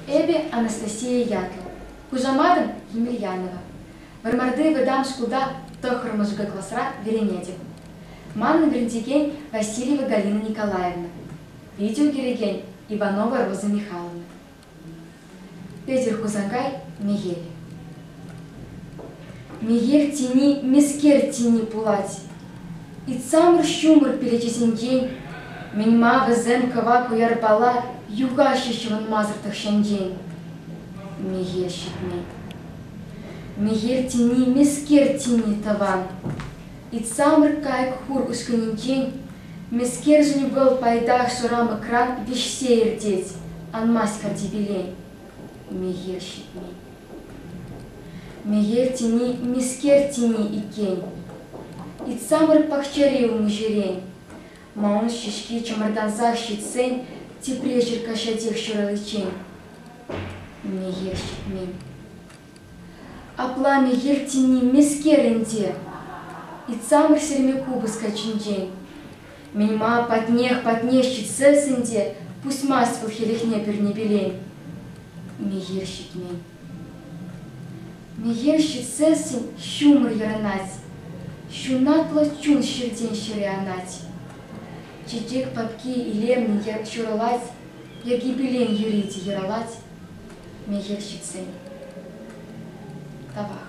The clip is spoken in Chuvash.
Эпӗ Анастасия ятлӑ, хушаматӑм Емельянова. Вӑрмарти вӑтам шкулта тӑххӑр мӑшӑкӗ класра вӗренетӗп. Манӑн вӗрентекен Васильева Галина Николаевна, видео кӳрекен Иванова Роза Михайловна. Петӗр Хусанкай Мехели. Мехех тени мӗскер тени пулать. Итсамӑр ҫумӑр перечисенчен мӗн-ма вӗсем кӑвак уярпала юхаҫҫӗ ҫӑвӑнмасӑр тӑхҫанчен? Мехел ҫитмет. Мехел тени мӗскер тени тӑван. Итсамӑр кайӑк хур ушкӑнӗнчен мӗскершӗн вӑл пайтах шӑрамӑкран вӗҫсе иртет, анмасть картипеле. Мехел ҫитмет. Мехел тени мӗскер тени иккен. Итсамӑр пахчари умӗҫерен. Манӑн ҫеҫке чӑмӑртансах ҫитсен тепре черкаҫатех ҫураличчен. Мехел ҫитмен. Апла мехел тени мӗскер ӗнтӗ? Итсамӑр сирме купӑс каччинчен. Мима патнех, патнех ҫитсе сӗнте, пусмасть вӑл хӗлӗхне пӳрне пилен. Мехел ҫитмен. Мехел ҫитсессӗн ҫумӑр йӑрӑнать, ҫунатлӑ чун ҫилтен ҫӗре анать. Чечек папки илемлӗн ҫурӑлать, йӗркипелен юрит йӑрӑлать. Мехел ҫитсен. Тавах.